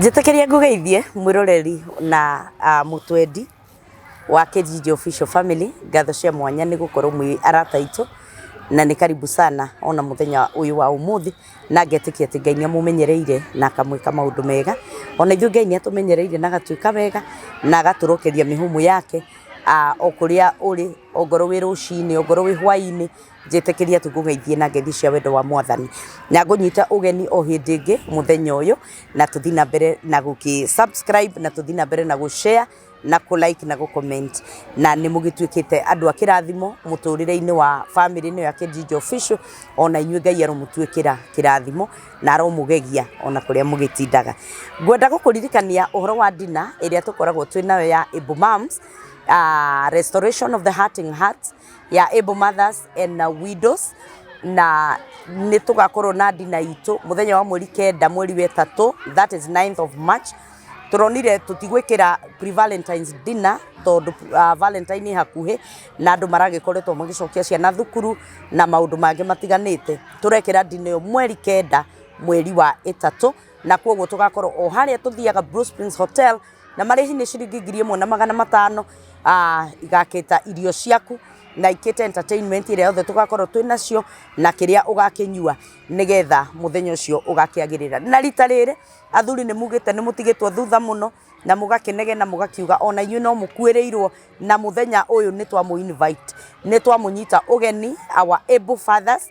Njĩtĩkĩria ngũgeithie mwĩroreri na mũtwendi wa Kĩnjinji Official Family, ngatho cia mwanya nĩ gũkorwo mwĩ arata aitũ, na nĩ karibu sana ona mũthenya ũyũ wa ũmũthĩ, na ngetĩkia atĩ Ngai nĩ amũmenyereire na akamwĩka maũndũ mega. Ona ithuĩ Ngai nĩ atũmenyereire na agatwĩka wega, na agatũrokeria mĩhũmũ yake o kũrĩa ũrĩ, ongorwo wĩ rũcinĩ, ongorwo wĩ hwainĩ, njĩtĩkĩria tu ngũgeithie na ngeithi cia wendo wa mwathani na ngũnyita ũgeni o hĩndĩ ĩngĩ mũthenya ũyũ na tũthiĩ na mbere na gũkĩ subscribe na tũthiĩ na mbere na gũshare na kũ like na gũ comment na nĩ mũgĩtuĩkĩte andũ a kĩrathimo mũtũrĩre-inĩ wa family ĩno ya Kenjinjo Official ona inyuĩ Ngai aromũtuĩkĩra kĩrathimo na aromũgegia ona kũrĩa mũgĩtindaga ngwenda gũkũririkania ũhoro wa ndina ĩrĩa tũkoragwo twĩ nayo ya Able Moms uh, Restoration of the Hurting Hearts ya Able Mothers and Widows, na nĩ tũgakorwo na ndina itũ mũthenya wa mweri kenda mweri wa ĩtatũ that is 9th of March. Tũronire tũtigwĩkĩra pre Valentine's dinner tondũ Valentine ĩ hakuhĩ na andũ maragĩkoretwo magĩcokia ciana thukuru na maũndũ mangĩ matiganĩte. Tũrekĩra ndina ĩyo mweri kenda mweri wa ĩtatũ. na kwoguo tũgakorwo o harĩa tũthiaga Blue Springs Hotel na marĩhi nĩ ciringi ngiri ĩmwe na magana matano ah, igakĩta irio ciaku na ikĩte entertainment ĩrĩa yothe tũgakorwo twĩ nacio na kĩrĩa ũgakĩnyua nĩgetha mũthenya ũcio ũgakĩagĩrĩra na rita rĩrĩ athuri nĩ mugĩte nĩ mũtigĩtwo thutha mũno na mũgakĩnegena mũgakiuga ona inyuĩ no mũkuĩrĩirwo na mũthenya ũyũ nĩ twamũ invite nĩ twamũnyita ũgeni our able fathers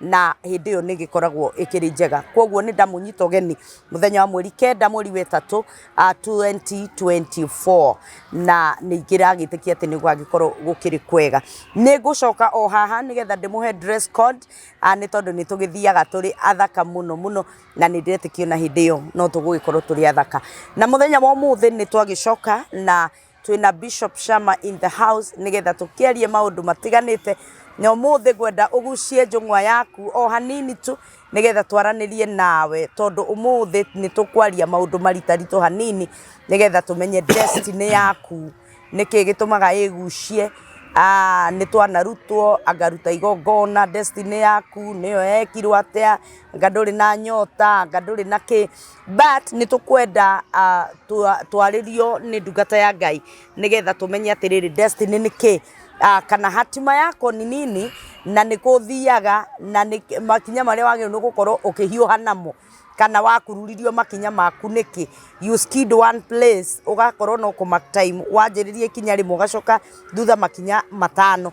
na hĩndĩ ĩyo nĩgĩkoragwo ĩkĩrĩ njega. Koguo nĩndamũnyita ũgeni mũthenya wa mweri kenda mweri wa ĩtatũ twenty twenty four na nĩndĩragĩtĩkia atĩ nĩgũgagĩkorwo gũkĩrĩ kwega. Nĩngũcoka o haha nĩgetha ndĩmũhe dress code nĩ tondũ nĩtũgĩthiaga tũrĩ athaka mũno mũno na nĩndĩretĩkia ona hĩndĩ ĩyo no tũgũgĩkorwo tũrĩ athaka. Na mũthenya wa ũmũthĩ nĩtwagĩcoka na... twĩna Bishop Shama in the house nĩgetha tũkĩarie maũndũ matiganĩte na ũmũthĩ ngwenda ũgucie njũng'wa yaku o hanini tu nĩgetha twaranĩrie nawe tondũ ũmũthĩ nĩ tũkwaria maũndũ maritaritũ hanini nĩgetha tũmenye destiny yaku nĩkĩ gĩtũmaga ĩgucie Ah, nĩ twanarutwo angaruta igongona destiny yaku nĩyo yekirwo atĩa anga ndũrĩ na nyota anga ndũrĩ na kĩ But nĩ tũkwenda ah, twa- twarĩrio nĩ ndungata ya Ngai nĩgetha tũmenye atĩrĩrĩ destiny nĩ kĩ Ah, kana hatima yako nĩ nini na nĩ kũthiaga na nĩ makinya marĩa wagĩrĩirwo nĩ gũkorwo ũkĩhiũha namo kana wakururirio makinya maku nĩkĩ you skid one place ũgakorwo no kũ mark time wanjĩrĩria ikinya rĩmwe ũgacoka thutha makinya matano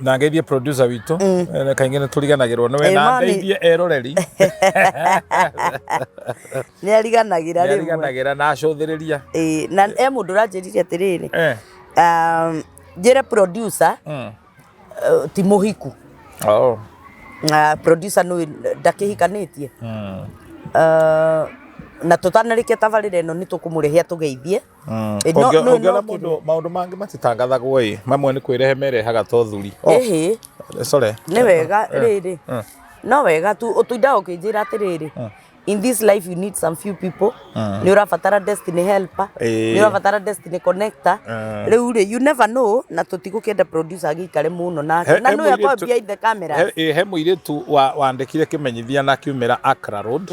na ngeithie producer witũ mm. Eh, kaingĩ nĩ tũriganagĩrwo nĩwe na ndeithie eroreri nĩ ariganagĩra rĩmwe ariganagĩra na acũthĩrĩria na e mũndũ ũranjĩrire atĩrĩrĩ eh. um, njĩre producer mm. eh, ti mũhiku oh. uh, producer nũĩ ndakĩhikanĩtie mm. uh, na tũtanarĩkia tabarĩra ĩno nĩ tũkũmũrĩhia tũgeithie Mm. Ĩ, no- Ũngĩ- no- no ũngĩona kĩndũ- mũndũ maũndũ mangĩ matitangathagwo ĩ mamwe nĩ kwĩrehe merehaga to thuri Oh, ĩhĩ sorry. nĩ wega rĩrĩ Mm. no wega tu ũtũindaga ũkĩnjĩra atĩrĩrĩ in this life you need some few people nĩ ũrabatara destiny helper Ĩĩ. nĩ ũrabatara destiny connector Mm. rĩu rĩ you never know na tũtigũkĩenda producer agĩikare mũno He- nake na he nĩ akwambia mũirĩtu- in the camera he- ĩ, he mũirĩtu wa- wandĩkire kĩmenyithia na kiumĩra Accra Road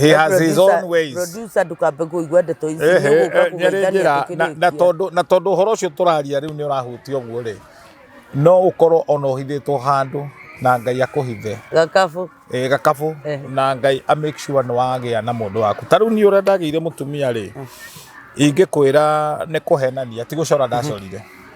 he has his own ways producer ndukambe kuigua ndeto ici Ehe, nĩ ũgũka eh, nyarĩ njĩra kũgeithania na- na tũkĩrĩkia. tondũ na tondũ ũhoro ũcio tũraria rĩu nĩ ũrahutia ũguo rĩ no ũkorwo ona ũhithĩtwo handũ na ngai akũhithe gakabu eh, gakabũ Eh. na ngai a make sure nĩ wagĩa na mũndũ waku ta rĩu niĩ ũrĩa ndagĩire mũtumia rĩ ingĩkwĩra nĩ kũhenania ti gũcora ndacorire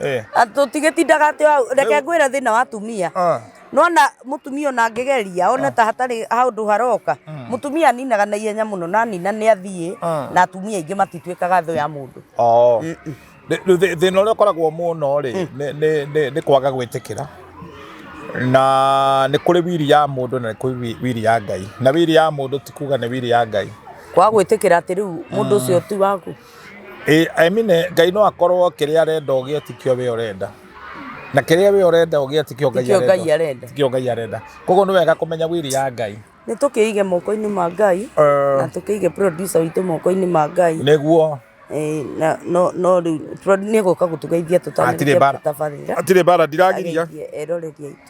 Eh. Ah, tũtigĩtindaga atĩ hau reke ngwĩre thĩna wa atumia Ah. nona mũtumia ona angĩgeria one ta hatarĩ handũ haroka mũtumia aninaga na ihenya mũno na nina nĩ athiĩ Ah. na atumia aingĩ matituĩkaga thũ ya mũndũ Oh. Rĩ- rĩu thĩ- thĩna ũrĩa ũkoragwo mũno rĩ nĩ- nĩ- nĩ- nĩ kwaga gwĩtĩkĩra na nĩ kũrĩ wiri ya mũndũ na nĩ kũrĩ wi- wiri ya ngai na wiri ya mũndũ ti kuga nĩ wiri ya ngai kwa gwĩtĩkĩra atĩ rĩu mũndũ ũcio ti waku Ĩ Emine, Ngai no akorwo kĩrĩa arenda ũgĩe tikĩo wĩ ũrenda. Na kĩrĩa wĩ ũrenda ũgĩe tikĩo Ngai Tikĩo Ngai arenda. Tikĩo Ngai arenda. Koguo nĩ wega kũmenya wili ya Ngai. Nĩ tũkĩige moko-inĩ ma Ngai Eh. na tũkĩige producer witũ moko-inĩ ma Ngai. Nĩguo. Eh, na no no rĩu pro- nĩ egũka gũtũgeithia Hatirĩ tũtanĩrĩkia bara. tabarĩra. Hatirĩ bara ndiragiria. Ageithie eroreria aitũ.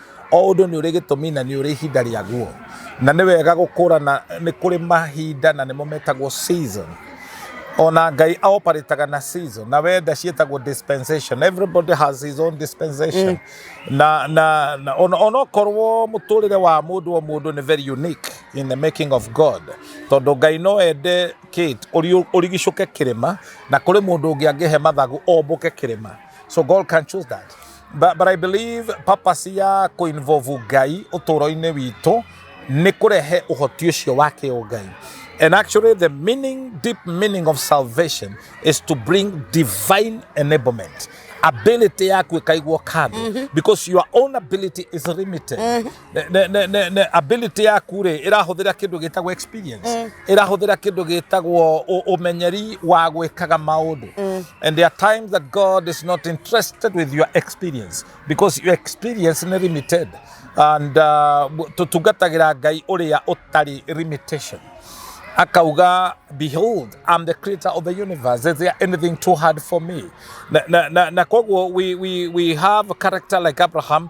O ũndũ nĩ ũrĩ gĩtũmi na nĩ ũrĩ ihinda rĩaguo. Na nĩ wega gũkũrana nĩ kũrĩ mahinda na nĩmo metagwo season. Ona Ngai a operataga na season na wenda ciĩtagwo dispensation. Everybody has his own dispensation. Na, na, na ona ona okorwo mũtũrĩre wa mũndũ o mũndũ nĩ very unique in the making of God. Tondũ Ngai no ende Kate ũri- ũrigicũke kĩrĩma na kũrĩ mũndũ ũngĩ angĩhe mathagu ombũke kĩrĩma. So God can choose that. but, but I believe purpose ya kũinvolve Ngai ũtũũro-inĩ witũ nĩ kũrehe ũhoti ũcio wa kĩũngai. And actually the meaning, deep meaning of salvation is to bring divine enablement. Ability yaku ĩkaigwo kando because your own ability is limited. Ne- ne- ne- ne- ne- ability yaku rĩ ĩrahũthĩra kĩndũ gĩtagwo experience ĩrahũthĩra kĩndũ gĩtagwo ũ- ũmenyeri wa gwĩkaga maũndũ and there are times that god is not interested with your experience because your experience nĩ limited and uh, tũtungatagĩra ngai ũrĩa ũtarĩ limitation akauga behold i'm the creator of the universe is there anything too hard for me na, na, na, na koguo we, we, we have a character like abraham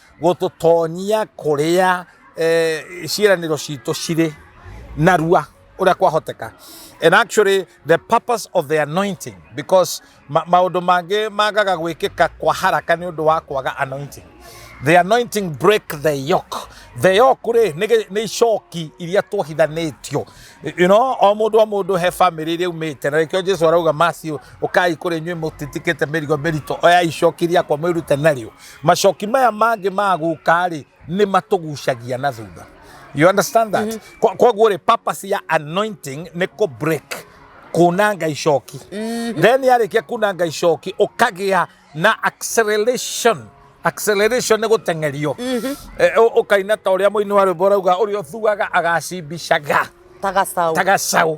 gũtũtonyia kũrĩa eh, ciĩranĩro citũ cirĩ narua ũrĩa kwahoteka and actually the purpose of the anointing because ma- maũndũ mangĩ magaga gwĩkĩka kwa haraka nĩ ũndũ wa kwaga anointing the anointing break the yoke the yoke rĩ nĩ gĩ- nĩ icoki iria twohithanĩtio you know o mũndũ o mũndũ he famĩlĩ iria umĩte na rĩkĩo jesu arauga macio ũkai kũrĩ inyuĩ mũtitikĩte mĩrigo mĩritũ oya icoki riakwa mwĩrute narĩo macoki maya mangĩ ma gũka rĩ nĩ matũgucagia na thutha you understand that Kwa- koguo rĩ purpose ya anointing nĩ kũ break kunanga icoki then yarĩkia kunanga icoki ũkagĩa na acceleration acceleration nĩ gũteng'erio Eh, ũ- ũkaina ta ũrĩa mũini wa rwĩmbo rauga ũrĩa ũthuaga agacimbicaga ta gacaũ ta gacaũ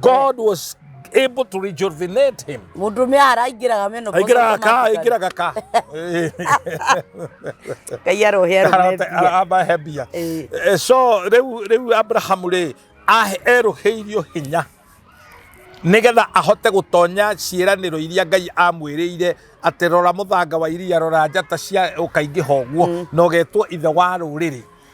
God was able to rejuvenate him. Mũndũ mĩa araingĩraga menopause. Aingĩraga ka, aingĩraga ka. Ngai arohe arohe. Aba hebia. Eh. Eh, so rĩu rĩu Abraham rĩ erũhĩirio hinya nigetha ahote gutonya ciĩranĩro iria ngai amwĩrĩire atĩ rora mũthanga wa iria rora njata cia ũkaingĩha ũguo mm. na ũgetwo ithe wa rũrĩrĩ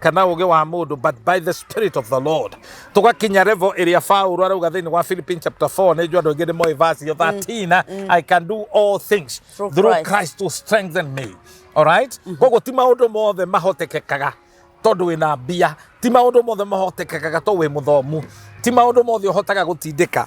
kana ũgĩ wa mũndũ but by the spirit of the lord tũgakinya revo ĩrĩa paulo arauga thĩinĩ wa philippine chapter 4 nĩ njũ andũ aingĩ nĩ moĩ verse yo 13 i can do all things Through through Christ. christ to strengthen me alright koguo ti maũndũ mothe mahotekekaga tondũ wĩna mbia ti maũndũ mothe mahotekekaga to wĩ mũthomu ti maũndũ mothe ũhotaga gũtindĩka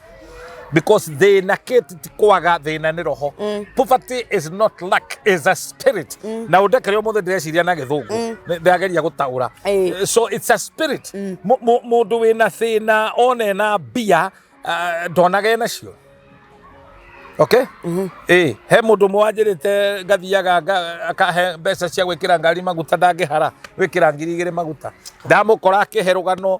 because thina kĩti ti kwaga thina nĩ roho mm. poverty is not luck is a spirit mm. na ũndekere ũmũthĩ ndĩreciria na gĩthũngũ mm. ndĩrageria gũtaũra eh. so it's a spirit mm. mũndũ wĩna thĩna one na mbia uh, ndonaga ena cio okay mm -hmm. eh he mundu mwanjirite ngathiaga akahe mbeca cia gwikira ngari maguta ndangihara wikira ngiri igiri maguta ndamukora akiherugano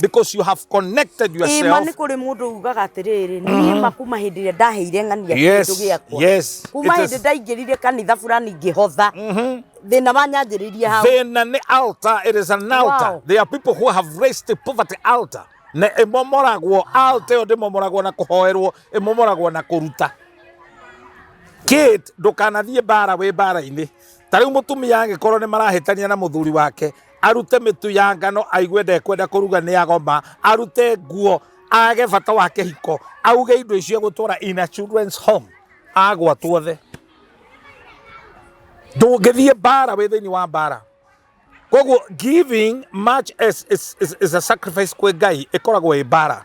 Because you have connected Ĩma yourself. nĩ kũrĩ mũndũ ugaga atĩrĩrĩ niĩ makuma hĩndĩ ĩrĩa ndaheire ng'ania Yes, kĩndũ gĩakwa yes, kuma it is. hĩndĩ ndaingĩrire kanitha burani ngĩhotha thĩna wanyanjĩrĩirie hau Then an altar, it is an altar. Wow. There are people who have raised the poverty altar. Na ĩmomoragwo altar ĩyo ndĩmomoragwo na kũhoerwo ĩmomoragwo na kũruta kid ndũkanathiĩ mbara wĩ mbara-inĩ ta rĩu mũtumia angĩkorwo nĩ marahĩtania na mũthuri wake arute mĩtu ya ngano aigue ndekwenda kũruga nĩ agoma arute nguo age bata wa kĩhiko auge indo icio gũtwara in a children's home agwa tuothe ndũngĩthiĩ mbara wĩ thĩinĩ wa mbara koguo giving much as is, is, is a sacrifice kwĩ ngai ĩkoragwo ĩ mbara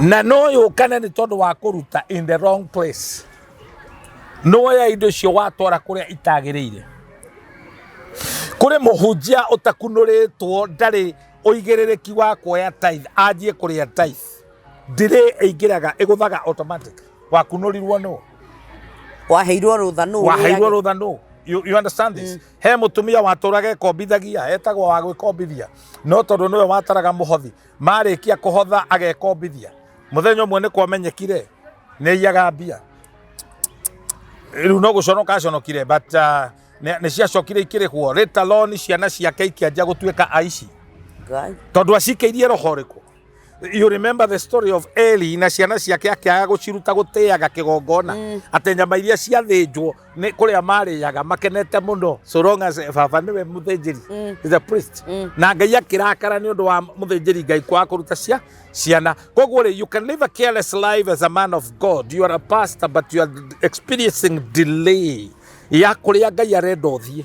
na no yũkane nĩ tondũ wa kũruta in the wrong place nĩwoya indo icio watwara kũrĩa itagĩrĩire kũrĩ mũhunjia ũtakunũrĩtwo ndarĩ ũigĩrĩrĩki wa kuoya tithe anjie kũrĩa tithe ndirĩ ĩingĩraga ĩgũthaga automatic wakunũrirwo nũ waheirwo rũtha nũ waheirwo rũtha nũ you, you understand this mm. he mutumia waturaga ekombithagia etagwo wa gwikombithia no tondu niwe wataraga muhothi marĩkia kũhotha agekombithia mũthenya ũmwe nĩ kwamenyekire nĩ iyaga mbia rĩu no gũconoka aconokire but uh, nĩ nĩ ciacokire ikĩrĩhwo rĩta loni ciana ciake ikĩanjia gũtuĩka aici Ngai. tondå acikeirie roho rä you remember the story of eli na ciana ciake akĩaga gå ciruta gå tä aga kä gongona atä nyama iria ciathä njwo nĩ kũrĩa marĩaga makenete mũno so long as baba nĩwe mũthĩnjĩri Mm. is a priest Mm. na ngai akĩrakara nĩ ũndũ wa mũthĩnjĩri ngai kwaga kũruta cia ciana koguo rĩ you can live a careless life as a man of god you are a pastor but you are experiencing delay ya kũrĩa ngai arenda ũthiĩ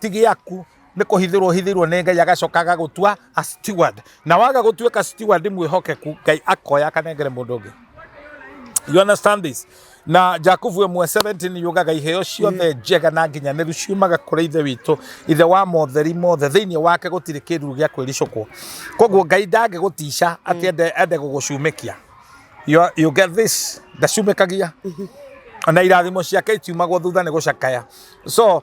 ti gĩaku nĩ kũhithĩrwo ũhithĩirwo nĩ ngai agacoka agagũtua a steward na waga gũtuĩka steward mwĩhokeku ngai akoya akanengere mũndũ ũngĩ you understand this na jakubu ĩmwe 17 yugaga iheo ciothe njega na nginyanĩru ciumaga kũrĩ ithe witũ ithe wa motheri mothe thĩinĩ wake gũtirĩ kĩruru gĩa kwĩricũkwo koguo ngai ndangĩgũtica atĩ ende, ende gũgũcumĩkia you, are- you get this ndacumĩkagia na irathimo ciake itiumagwo thutha nĩ gũcakaya so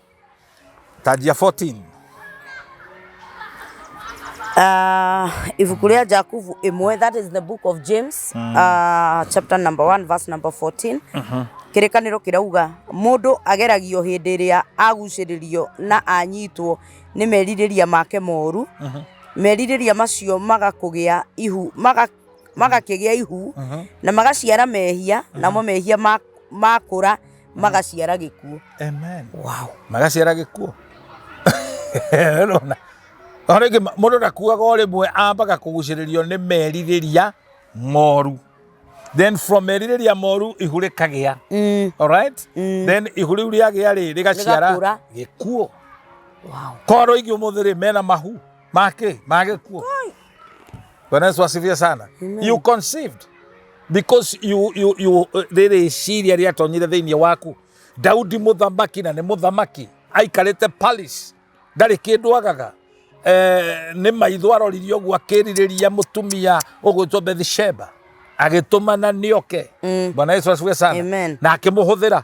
Tanjia 14. Uh, ibuku rĩa Jakubu ĩmwe that is the book of James mm. uh, chapter number 1 verse number 14 uh-huh. kĩrĩkanĩro kĩrauga mũndũ ageragio hĩndĩ ĩrĩa agucĩrĩrio na anyitwo nĩ merirĩria make moru uh-huh. merirĩria macio magakũgĩa ihu maga, magakĩgĩa ihu uh-huh. na magaciara mehia uh-huh. namo mehia makũra ma magaciara gĩkuũ Amen. wow. magaciara gĩkuũ rona o rĩngĩ ma- mũndũ ndakuaga o rĩmwe ambaga kũgucĩrĩrio nĩ merirĩria moru then from merirĩria moru ihu rĩkagĩa mm. alright then ihu rĩu rĩagĩa rĩ rĩgaciara Rĩgakũra. gĩkuũ wow. korwo ingĩ ũmũthĩ rĩ mena mahu Make, make kuo. Bwana Yesu asifiwe sana. Amen. You conceived because you you you uh, rĩrĩ ciria rĩatonyire thĩinĩ waku Daudi mũthamaki na nĩ mũthamaki aikarĩte Paris ndarĩ kĩndũ agaga eh, nĩ maitho aroririe ũguo akĩrirĩria mũtumia ũgwĩtwo Bethsheba agĩtũmana nĩoke mm. Bwana Yesu asifiwe sana Amen. na akĩmũhũthĩra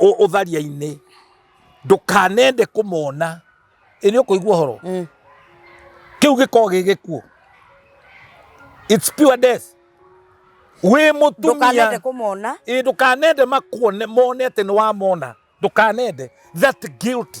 ũ- ũtharia-inĩ ndũkanende kũmona ĩnĩ ũkũigua ũhoro Mm. kĩu gĩkorwo gĩ gĩkuũ its pure death wĩ ndũkanende mũtumia kũmona ĩ ndũkanende makuone mone atĩ nĩ wamona ndũkanende that guilty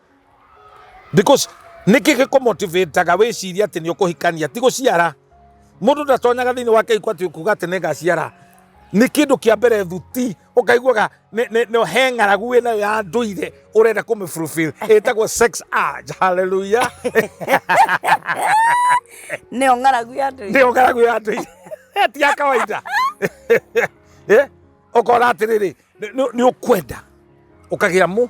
because niki giko motivateaga wiciria ati ni ukuhikania ti guciara mundu ndatonyaga thiini wa kihiko ati kuga ati ningaciara ni kindu kia mbere thuti ukaiguaga ni- ni- ni he ng'aragu wi nayo ya nduire urenda kumi fulfill itagwo sex urge haleluya nä o ng'aragu ya andå ndio ng'aragu ya nduire ti ya kawaida Eh, ukona atiriri ni ukwenda ukagira mu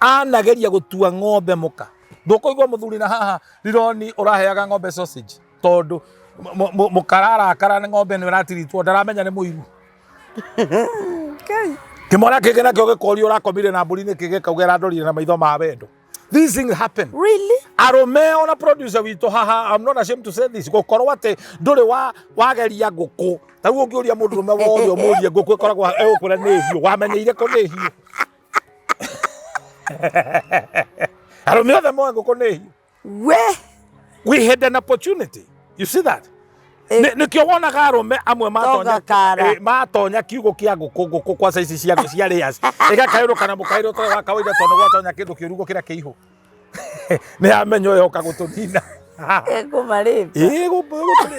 anageria gũtua ng'ombe mũka ndũkũigua mũthuri na haha rironi ũraheaga ng'ombe sausage tondũ mũ- mũ- mũkararakara nĩ ng'ombe nĩ ĩratiritwo ndaramenya nĩ mũiru Kai. kĩmwana kĩngĩ nakĩo gĩkorio ũrakomire na mbũri nĩ kĩgĩ kaugera arandorire na maitho ma wendo these things happen Really? arũme ona producer witũ haha I'm not ashamed to say this gũkorwo atĩ ndũrĩ wa wageria ngũkũ tarĩu ũngĩũria mũndũ rũme wothe ũmũrie ngũkũ ĩkoragwo egũkwĩra nĩ hiũ wamenyeire kũ nĩ hiũ and on the other moe ngũkũ nĩ hiũ we we had an opportunity you see that Eh. Nĩ- nĩkĩo wonaga arũme amwe matonya Togakara. eh, matonya kiugũ kĩa ngũkũ ngũkũ kwa saici cia cia layers ĩgakaĩrũka na mũkaĩrĩ ũtarĩ wa kawaida tondũ gwatonya kĩndũ kĩrugo kĩrĩa kĩihũ nĩ yamenya ũyũ oka gũtũnina ekũmarĩte ĩĩ gũtũrĩ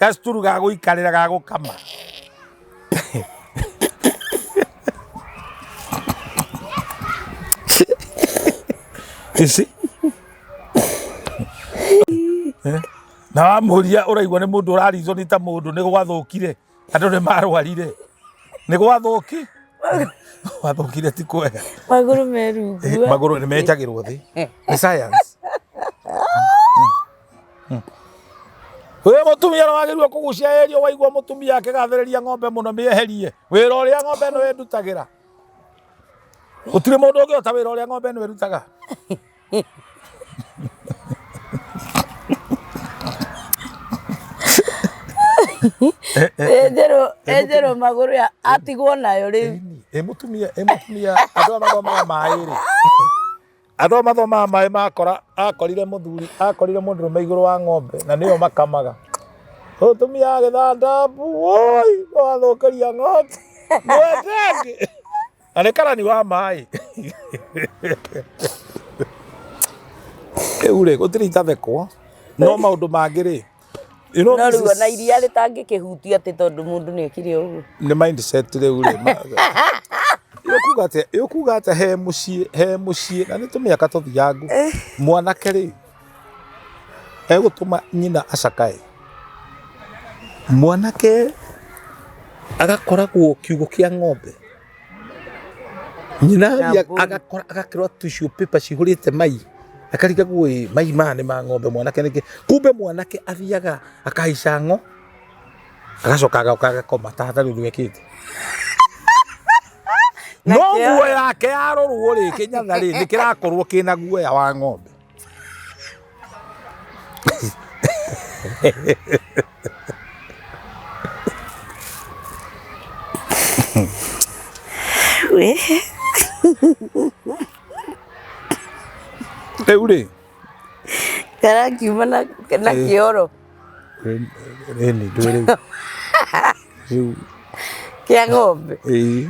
Gacituru ga gũikarĩra ga gũkama. Ici. Eh? Na wamũria ũraigua nĩ mũndũ ũrarizwo nĩ ta mũndũ nĩ gwathũkire andũ nĩ marwarire nĩ gwathũki wathũkire ti kwega magũrũ merungu magũrũ nĩ menjagĩrwo thĩ nĩ science Wĩ mũtumia ũrĩa wagĩrĩirwo kũgucia ĩrio waigua mũtumia akĩgathĩrĩria ng'ombe mũno mĩeherie wĩra ũrĩa ng'ombe ĩno ĩndutagĩra. Gũtirĩ mũndũ ũngĩhota wĩra ũrĩa ng'ombe ĩno ĩrutaga. Enjerwo enjerwo magũrũ ya atigwo nayo rĩu. Ĩ mũtumia ĩ mũtumia andũ aya mathomaga maĩ-rĩ Andũ mathomaga maĩ makora akorire mũthuri akorire mũndũrũme igũrũ wa ng'ombe na nĩyo makamaga. Mũtumia agĩthanda mbu woi wathũkĩria ng'ombe mwete angĩ na nĩ karani wa maĩ. Rĩu rĩ gũtirĩ itathekwo no maũndũ mangĩ rĩ You know, no this rĩu is- ona iria rĩtangĩkĩhutia atĩ tondũ mũndũ nĩ ekire ũguo nĩ mindset rĩu rĩ ma- Yo kuga atĩa- yo kuga atĩa he mũciĩ he mũciĩ na nĩ tũmĩaka tũthiangu mwanake rĩ egũtũma nyina acakae mwanake agakoragwo kiugũ kĩa ng'ombe nyina athiĩ Nyambũri. agakora agakĩrwa tissue paper cihũrĩte mai akariga guĩ mai maya nĩ ma ng'ombe mwanake nĩkĩ kumbe mwanake athiaga akahaica ng'o agacoka agaoka agakoma ta hatarĩ ũndũ ekĩte no Nakĩo- nguo yake yarorwo rĩ kĩnyatha rĩ nĩ kĩrakorwo kĩna guoya wa ng'ombe rĩu rĩ karakiuma na na kĩoro Ĩni ndũĩ rĩu. Rĩu kĩa ng'ombe ĩĩ.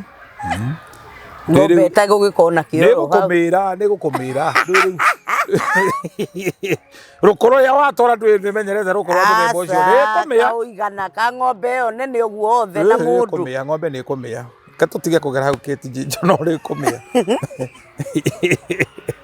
ng'ombe Rĩu- ĩtagĩ ũgĩkorwo na kĩoro hau. nĩgũkũmĩra nĩgũkũmĩra ndũĩ rĩu. rũkũrũ rĩa watwara ndũĩ nĩmenyerete rũkũrũ rwa mũthemba ũcio Aca, nĩkũmĩa kaũigana ka ng'ombe ĩyo nene ũguo othe na mũndũ kũmĩa ng'ombe nĩ kũmĩa katũtige kũgera hau kĩtinjinjo no rĩkũmĩa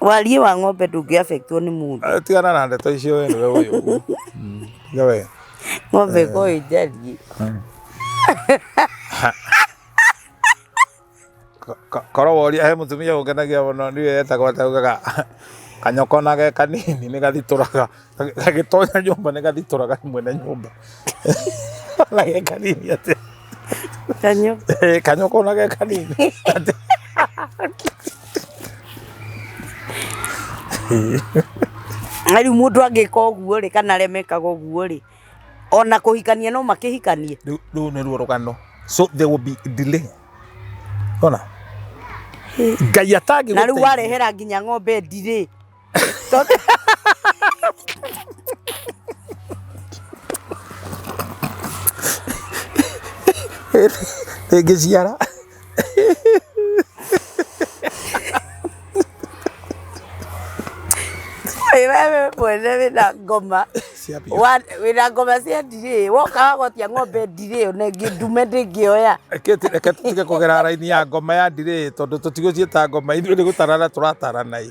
Wariĩ wa ng'ombe ndũngĩ affect wo nĩ mũndũ. Eh, tigana na ndeto icio we nĩwe ũyũ ũguo Mm, tiga we Ng'ombe ĩko ĩnjariĩ. Ko- ko- korwo woria he mũtumia ũngenagia mũno niwe etagwo ataugaga kanyoko nage kanini nĩ gathitũraga gagĩtonya nyũmba nĩ gathitora ga mwene nyũmba na ge kanini atĩ Kanyo. Eh, kanyoko na ge kanini Atĩ- Na rĩu mũndũ angĩka ũguo rĩ kana remekaga ũguo rĩ ona kũhikania no makĩhikanie rĩu rĩu nĩruo rũgano so there will be delay ona ngai atangĩ na rĩu warehera nginya ng'ombe ndirĩ ĩngĩciara Ĩ wewe mwene wĩna ngoma ciambia Wa- wĩna ngoma cia ndirĩ woka wagotia ng'ombe ndirĩ ona ĩngĩ ndume ndĩngĩoya reke tu- reke tũtige kũgera raini ya ngoma ya ndirĩ tondũ tũtigũciĩta ngoma ithuĩ nĩ gũtarana tũratarana ĩ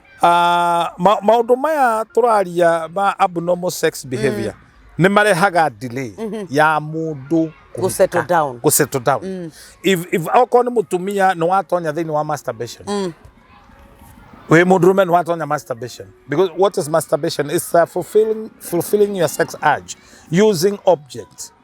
Ah, ma- maũndũ maya tũraria ma abnormal sex behavior nĩ marehaga delay ya mũndũ Gũ settle down. gũ settle down if if okorwo nĩ mũtumia nĩ watonya thĩinĩ wa masturbation wĩ mũndũrũme nĩ watonya masturbation because what is masturbation is uh, fulfilling fulfilling your sex urge using objects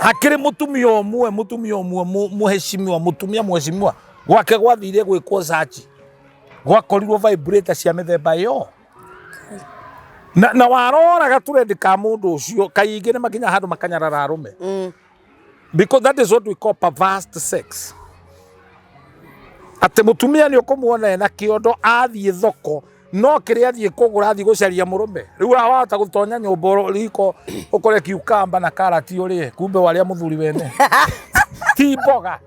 hakiri mutumia umwe mutumia umwe mu- muheshimiwa mutumia muheshimiwa gwake gwathire gwikwo sachi gwakorirwo vibrator cia mithemba yo na, na warora gaturendi ka mundu ucio kaingĩ nĩ makinya handũ makanyarara arume Mm. because that is what we call perversed sex atä må tumia nä å kå muona ena kä ondo athiä thoko no kĩrĩa athiĩ kũgũra athiĩ gũcaria mũrũme rĩu ũrĩa wahota gũtonya nyũmba ũrũ- riko ũkore kiukamba na karati ũrĩe kumbe warĩa mũthuri wene ti mboga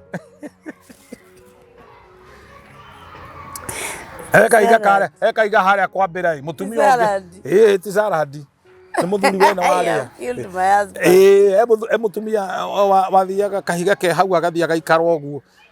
ekaiga kare ekaiga harĩa kwa mbĩra mũtumia ũngĩ Salad. ĩĩ ti sarandi nĩ mũthuri wene I warĩa have killed my husband. Ĩĩ, he mũthu- he mũtumia o- wa- wathiaga kahiga ke hau agathiĩ agaikara ũguo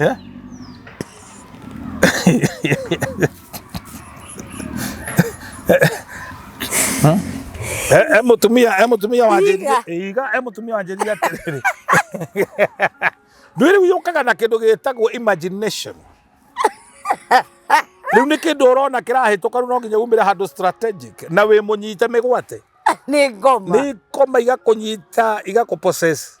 Yeah? emutumia emutumia wanjĩria iga emutumia wanjĩria atĩrĩrĩ ndwĩ rĩu yũkaga na kĩndũ gĩtagwo imagination rĩu nĩ kĩndũ ũrona kĩrahĩtũka rĩu no nginya umĩre handũ strategic na wĩ mũnyite mĩgwate nĩ ngoma nĩ ngoma igakũnyita igakũpossess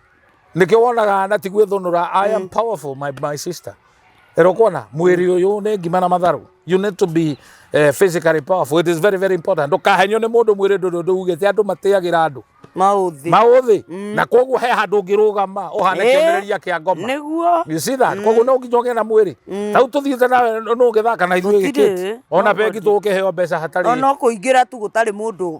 nĩkĩo wonaga na ti gwĩthũnũra i am powerful my, my sister erokwona mwĩrĩ ũyũ nĩ ngima na matharũ you need to be uh, physically powerful it is very very important ndũkahenio nĩ mũndũ mwĩrĩ ndũndũ ndũugĩte andũ matĩagĩra andũ maũthĩ maũthĩ na koguo he handũ ũngĩrũgama ũhane Eh. kĩonereria kĩa ngoma nĩguo You see that? Koguo no nginya ũgĩe na mwĩrĩ tau tũthiĩte nawe nũ ũgĩthaka na ithuĩ Gũtirĩ. gĩkĩti ona No bengi tũgũkĩheo mbeca hatarĩ ona kũingĩra tu gũtarĩ mũndũ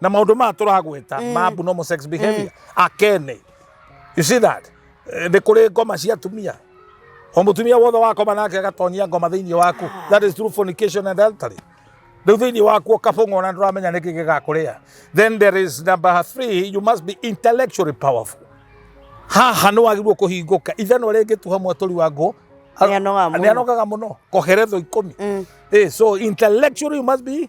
na maundu maya turagweta ma abnormal sex behavior akene you see that Eh, ni kuri ngoma cia atumia o mutumia wothe wakoma nake agatonyia ngoma thiini waku that is true fornication and adultery riu thiini waku ukabung'wo na nduramenya niki gigakuria then there is number three you must be intellectually powerful haha nä wagä kå hingå ka ithanwa rä ngä tuha mwatåri wa ngå Nĩanogaga mũno. nä anogaga må no koheretho ikå mi so intellectually you must be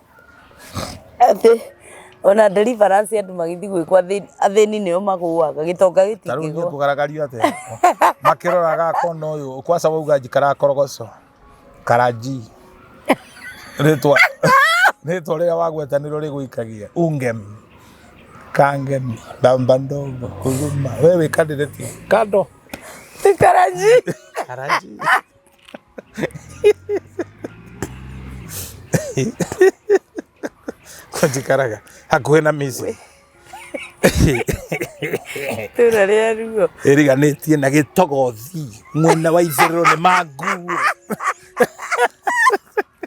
Atĩ ona deliverance andũ magĩthiĩ gwĩkwo athĩni athĩni nĩo magũaga gĩtonga ta rĩu niĩ gĩtingĩgwa kũgaragario atĩa makĩroraga akona ũyũ kwaca wauga njikara korogoco karanji rĩtwa rĩtwa rĩrĩa wagweta nĩrĩo rĩgũikagia ungem kangem ndamba ndogo huruma we wĩkandĩrĩtie kando tikaranji karanji kwa njikaraga hakuhĩ na mĩciĩ itũra rĩa ruo ĩriganĩtie na gĩtogothi mwena wa itherero nĩ manguo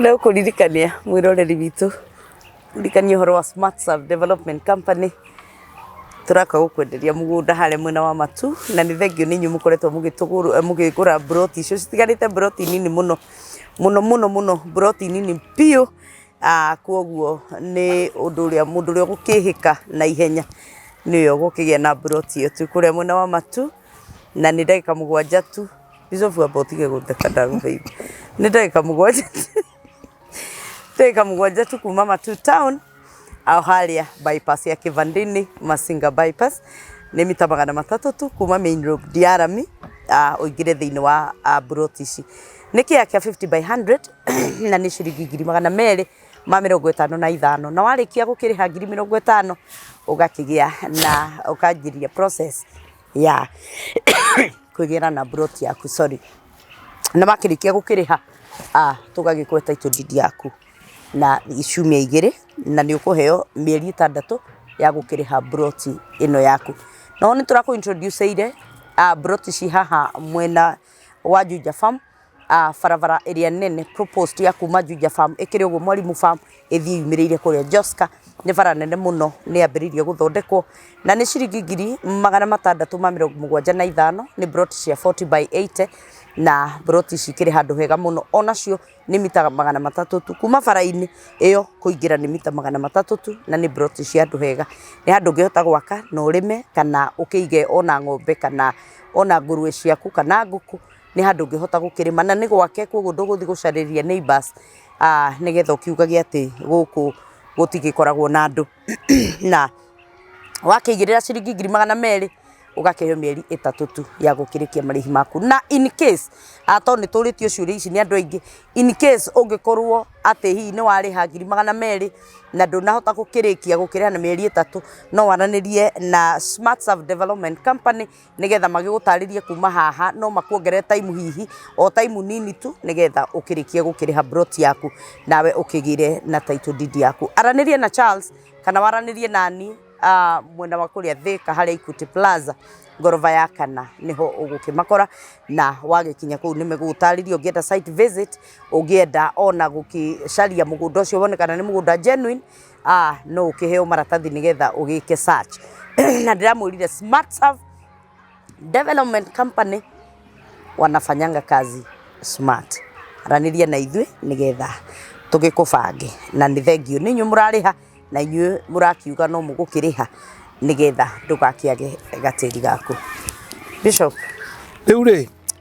Nĩ ũkũririkania mwĩroreri witũ, ũririkanie ũhoro wa Smart Serve Development Company, tũroka gũkwenderia mũgũnda harĩa mwena wa Matu, na nĩ thengiũ nĩ inyuĩ mũkoretwo mũgĩtũgũra mũkĩgũra mburoti icio, citigarĩte mburoti nini mũno, mũno mũno mũno mburoti nini biũ, Kwoguo nĩ ũndũ ũrĩa mũndũ ũrĩa ũgũkĩhĩka na ihenya nĩwe ũgũkĩgĩa na mburoti ĩyo. Twĩ kũrĩa mwena wa Matu na nĩ ndagĩka mũgwanja tu. Bishop amba ũtige gũtheka ndagũthaitha. Nĩ ndagĩka mũgwanja tu, ndagĩka mũgwanja tu kuuma Matu town o harĩa bypass ya Kĩbandĩ-inĩ, Masinga bypass, nĩ mita magana matatũ tu kuuma Main Road Ndiarami ũingĩre thĩinĩ wa mburoti ici. Nĩ kĩea kĩa fifty by hundred. na nĩ ciringi ngiri magana merĩ ma mĩrongo ĩtano na ithano. Na warĩkia gũkĩrĩha ngiri mĩrongo ĩtano ũgakĩgĩa na ũkanjĩrĩria process ya kũgĩa na plot yaku sorry. Na wakĩrĩkia gũkĩrĩha tũgagĩkũhe title deed yaku na ciumia igĩrĩ na nĩ ũkũheo mĩeri ĩtandatũ ya gũkĩrĩha plot ĩno yaku. No nĩ tũrakũ introduce ĩire plot ci haha mwena wa Juja Farm ah, barabara ĩrĩa nene proposed ya kuma Juja Farm ĩkĩrĩ ũguo Mwalimu Farm ĩthiĩ yumĩrĩire kũrĩa Joska nĩ bara nene mũno nĩ yambĩrĩirie gũthondekwo na nĩ ciringi ngiri magana matandatũ ma mĩrongo mũgwanja na ithano nĩ broti cia 40 by 80 na broti ici ikĩrĩ handũ hega mũno onacio nĩ mita magana matatũ tu, kuma bara-inĩ ĩyo kũingĩra nĩ mita magana matatũ tu, na nĩ mburoti cia andũ ega. Nĩ handũ ũngĩhota gwaka na ũrĩme kana ũkĩige ona ng'ombe kana ona ngũrũwe ciaku kana ngũkũ, nĩ handũ ũngĩhota gũkĩrĩma na nĩ gwake kũguo ndũgũthiĩ gũcarĩria neighbours nĩgetha ũkiugagia atĩ gũkũ gũtigĩkoragwo na andũ. na wakĩigĩrĩra ciringi ngiri magana merĩ ũgakĩheo mĩeri ĩtatũ tu ya gũkĩrĩkia marĩhi maku. Na in case tondũ nĩ tũrĩtio ciũria ici nĩ andũ aingĩ, in case ũngĩkorwo atĩ hihi nĩ warĩha ngiri magana merĩ na ndũnahota gũkĩrĩkia gũkĩrĩha na mĩeri ĩtatũ, no waranĩrie na Smartserve Development Company nĩgetha magĩgũtarĩrie kuma haha no makuongerere time hihi o time nini tu nĩgetha ũkĩrĩkie gũkĩrĩha broti yaku nawe ũkĩgĩre na title deed yaku aranĩrie na Charles kana waranĩrie nani ah, mwena wa kũrĩa Thĩka harĩa Equity Plaza ngoroba ya kana nĩho ũgũkĩmakora na wagĩkinya kũu nĩ megũgũtarĩria ũngĩenda site visit ũngĩenda ona gũkĩcaria mũgũnda ũcio wone kana nĩ mũgũnda genuine no ũkĩheo maratathi nĩgetha ũgĩke search na ndĩramwĩrire Smart Serve Development Company wanafanyanga kazi smart. Aranĩria na ithuĩ nĩgetha tũgĩkũbange na nĩ thengiũ nĩ inyuĩ mũrarĩha na inyuĩ mũrakiuga no mũgũkĩrĩha nĩgetha ndũgakĩage gatĩri gaku. Bishop. Rĩu rĩ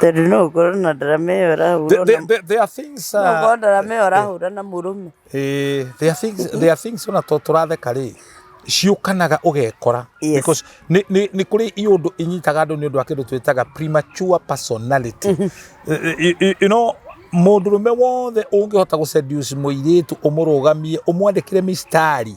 tondå no å korwo na ndarama ä yo ärahurwo na korwo ndarama ä yo ärahura na må rå me ona to tå ratheka rä ciũkanaga ũgekora because nĩ kũrĩ iũndũ inyitaga andũ nĩ ũndũ wa kĩndũ twĩtaga premature personality you know mũndũrũme wothe ũngĩhota gũceduce mũirĩtu ũmũrũgamie ũmwandĩkĩre mistari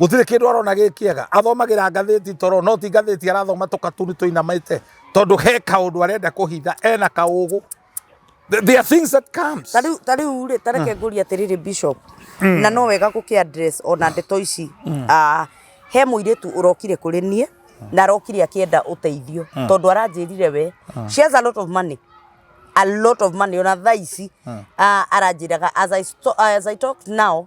gũtirĩ kĩndũ arona gĩ kĩega athomagĩra ngathĩti toro no ti ngathĩti arathoma tũkatuni tũinamĩte tondũ he kaũndũ arenda kũhitha ena kaũgũ Th- there are things that comes ta rĩu ta rĩu rĩ ta reke ngũria atĩrĩrĩ bishop na no wega gũkĩ address ona ndeto ici Ah, he mũirĩtu ũrokire kũrĩ niĩ na arokire akĩenda ũteithio tondũ aranjĩrire we she has a lot of money a lot of money ona thaa ici ah, aranjĩraga as I, sto- as I talk now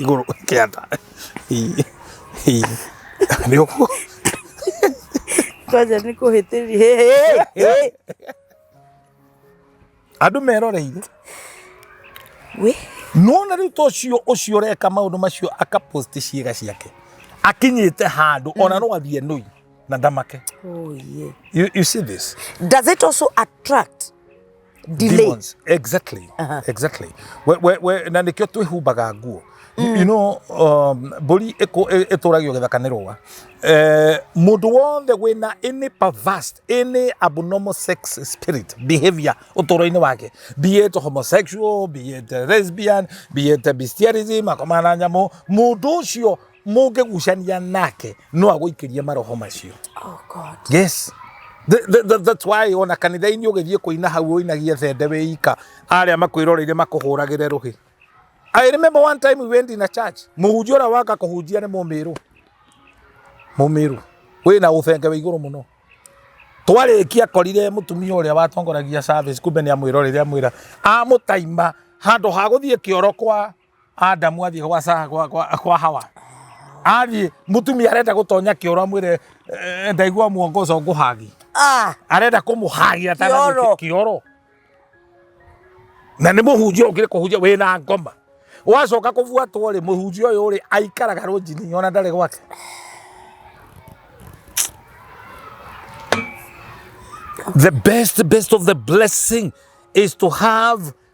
igũrũ kĩanda nĩ ũguo kwanja nĩ kũhĩtĩria andũ meroreire we nona rä u ta å cio å cio å reka maå ndå macio akapost ciäga ciake akinyä te handå ona no athiä nui na ndamake oh yeah you, you see this does it also attract delay demons exactly Aha. exactly we, we, we, na nikio twihumbaga nguo mm. you know um, mburi itũragio gĩthaka nĩ rũa eh, mũndũ wothe wĩna any perverse any abnormal sex spirit behavior ũtũro-inĩ wake be it homosexual be it lesbian be it bestialism akomana na nyamũ mũndũ ũcio mũngĩgucania nake no agũikĩrie maroho macio Oh God. yes Th- th- th- that's why ona kanitha-inĩ ũgĩthiĩ kũina hau ũinagie thende wĩ ika arĩa makwĩroreire makũhũragĩre rũhĩ I remember one time we went in a church mũhunjia ũrĩa waka kũhunjia nĩ mũmĩrũ mũmĩrũ wĩ na ũthenge wĩ igũrũ mũno twarĩkia korire mũtumia ũrĩa watongoragia service kumbe nĩ amwĩroreire amwĩra amũtaima handũ ha gũthiĩ kĩoro kwa Adamu athiĩ gwa, Sa- gwa, gwa, gwa hawa athiĩ mũtumia arenda gũtonya kĩoro amwĩre eh, ndaigua muongo ũcio ngũhagi Ah, arenda kũmũhagia Kĩoro. kioro na nĩ mũhunjia ũkĩrĩ kũhunjia wĩ na ngoma wacoka kũbuatwo rĩ mũhunjia ũyũ rĩ aikaraga rũnjini ona ndarĩ gwake the best best of the blessing is to have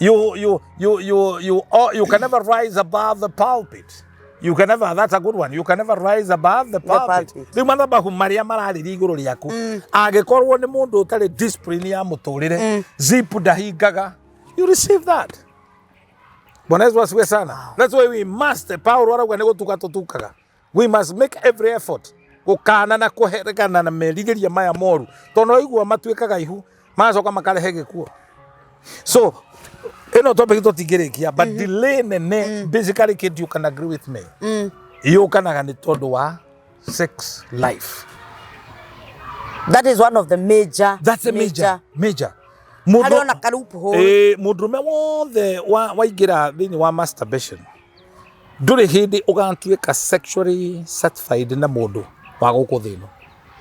You, you, you, you, you, oh, you can never rise above the pulpit. You can never, that's a good one. You can never rise above the pulpit. pulpit. Rĩu mathabahu marĩa mararĩria igũrũ rĩaku mm. angĩkorwo nĩ mũndũ ũtarĩ discipline ya mũtũrĩre mm. zip ndahingaga you receive that bwana yesu asiwe sana wow. that's why we must paulo arauga nĩ gũtuka tũtukaga we must make every effort gũkana na kũherekana na merigĩria maya moru tondũ no igua matuĩkaga ihu magacoka makarehe gĩkuo so ĩno topic tũtingĩrĩkia but mm. delay nene mm. basically kid you can agree with me mm. yũkanaga nĩ tondũ wa sex life that is one of the major that's a major major, major. mũndũ arĩ ona karupu hũĩ eh, mũndũrũme wothe waingĩra thĩinĩ wa masturbation ndũrĩ hĩndĩ ũgatuĩka sexually satisfied na mũndũ wa gũkũ thĩ ĩno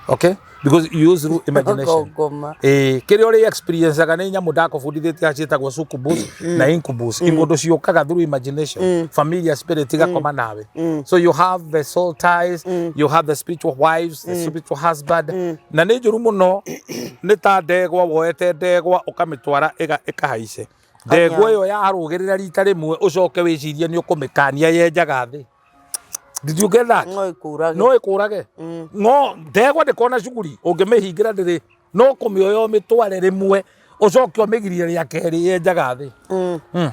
okay because you use through imagination ngoma Eh, kĩrĩa ũrĩ experienceaga nĩ nyamũ ndakũbundithĩtie ciĩtagwo succubus na incubus ingũndũ ciũkaga through imagination familiar spirit igakoma nawe so you have the soul ties you have the spiritual wives the spiritual husband na nĩ njũru mũno nĩ ta ndegwa woete ndegwa ũkamĩtwara ĩga- ĩkahaice Ndegwa ĩyo yarũgĩrĩra rita rĩmwe ũcoke wĩcirie nĩ ũkũmĩkania yenjaga thĩ. Did you get that? No ĩkũrage. No ĩkũrage. Mm. No ndegwa ndĩkona cuguri ũngĩmĩhingĩra ndĩrĩ no kũmĩoya ũmĩtware rĩmwe ũcoke ũmĩgirie rĩa kerĩ yenjaga thĩ. Mm. Mm.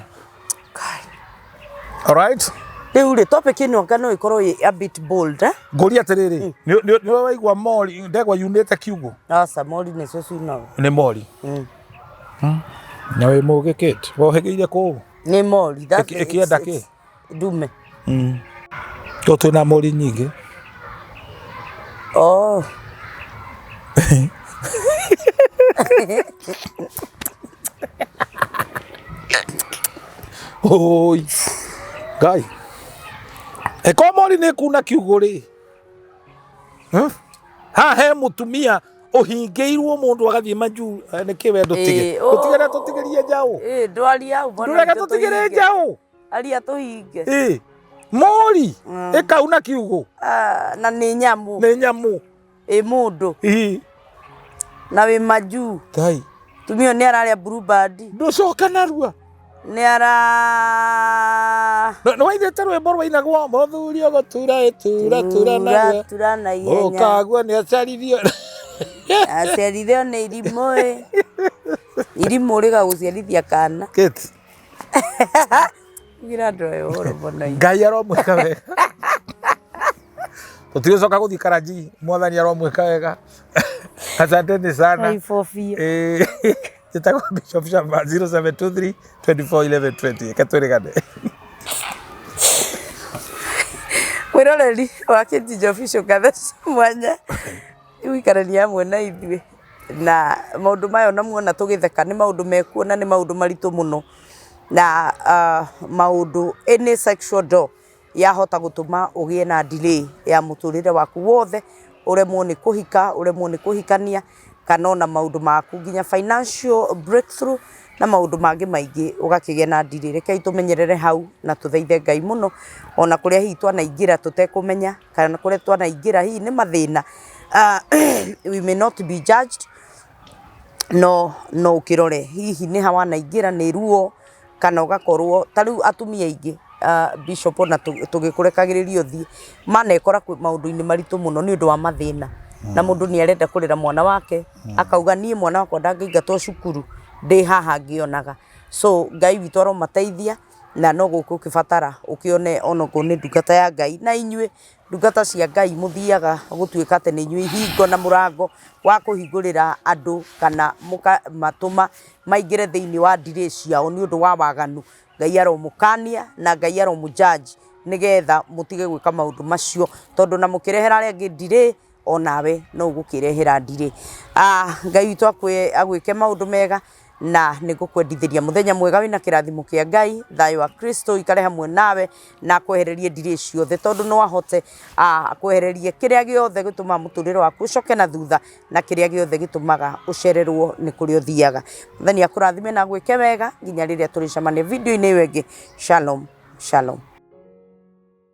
All right? Rĩu rĩ topic ĩno nga no ĩkorwo ĩ a bit bold eh? Ngũria atĩrĩrĩ, mm. nĩ waigua mori ndegwa yunĩte kiugũ? Aca mori nĩcio ciunaga. Nĩ mori. Mm. Na wĩ mũgĩ Kate, wohĩgĩire kũũ? Nĩ mori. that's Ĩkĩ- it, ĩkĩenda it's- kĩ? it's Ndume. Tũ twĩna mũri nyingĩ. Oh. Oi. Ngai. Eko mori nĩ kuna kiugũ rĩ. Hmm? Ha he mũtumia ũhingĩirwo mũndũ agathiĩ majuu eh, nĩkĩ we ndũtige Ĩĩ, oo. ũtigere tũtigĩrie njaũ Ĩ, ndwaria hau mbona ndũreke nitũ tũtigĩre tũhinge. njaũ aria tũhinge Ĩ, mũri Mm. ĩkau na kiugũ Ah, na nĩ nyamũ nĩ nyamũ ĩ mũndũ Ĩ, na wĩ majuu ngai tumio nĩ ararĩa bluebird ndũcoka narua nĩara nĩwaithĩte rwĩmbo rwainagwo mũthuri ũgũtura ĩtura tura nawe tura na ihenya ũkaguo nĩ aciarithio aciarithio nĩ irimũ ĩ irimũ rĩgagũciarithia kana kĩti gira andũ aya ũhoro mbona inyuĩ. ngai aromwĩka wega tũtigũcoka gũthiĩ karanji mwathani aromwĩka wega asanteni sana Kaibobia. Ĩĩ. njĩtagwo bishop shamba 0723 241120 reke twĩrĩgane mwĩroreri wa kĩnjinjo bicu ngathe cia mwanya gũikarania hamwe na ithuĩ na maũndũ maya ona muona tũgĩtheka nĩ maũndũ mekuo na nĩ maũndũ maritũ mũno na ah, maũndũ any sexual door yahota gũtũma ũgĩe na delay ya mũtũrĩre waku wothe, ũremwo nĩ kũhika, ũremwo nĩ kũhikania, kana ona maũndũ maku nginya financial breakthrough na maũndũ mangĩ maingĩ ũgakĩgĩa na delay. Rekei tũmenyerere hau na tũthaithe Ngai mũno, ona kũrĩa hihi twanaingĩra tũtekũmenya, kana kũrĩa twanaingĩra hihi nĩ mathĩna, we may not be judged, no no ũkĩrore hihi nĩ ha wanaingĩra, nĩ ruo. kana ũgakorwo, ta rĩu atumia aingĩ Bishop ona tũgĩkũrekagĩrĩria ũthiĩ, manekora maũndũ-inĩ maritũ mũno nĩ ũndũ wa mathĩna. Na mũndũ nĩ arenda kũrera mwana wake, akauga niĩ mwana wakwa ndangĩingatwo cukuru ndĩ haha ngĩonaga. So Ngai witũ aromateithia na no gũkũ ũngĩbatara ũkĩone onokorwo nĩ ndungata ya Ngai. Na inyuĩ Ndungata cia Ngai mũthiaga gũtuĩka atĩ nĩ inyuĩ ihingo na mũrango wa kũhingũrĩra andũ kana mũkamatũma maingĩre thĩinĩ wa ndirĩ ciao nĩ ũndũ wa waganu. Ngai aromũkania na Ngai aromũ judge nĩgetha mũtige gwĩka maũndũ macio tondũ na mũkĩrehera arĩa angĩ ndirĩ onawe no ũgũkĩrehera ndirĩ. Ah, Ngai witũ akwe- agwĩke maũndũ mega na nĩ ngũkwendithĩria mũthenya mwega wĩna kĩrathimo kĩa Ngai, thayũ wa Kristo ikare hamwe nawe na akwehererie ndirĩ ciothe tondũ no ahote ah, akwehererie kĩrĩa gĩothe gĩtũmaga mũtũrĩre waku ũcoke na thutha na kĩrĩa gĩothe gĩtũmaga ũcererwo nĩ kũrĩa ũthiaga. Mwathani akũrathime na agwĩke wega nginya rĩrĩa tũrĩcemania video-inĩ ĩyo ĩngĩ. Shalom, shalom.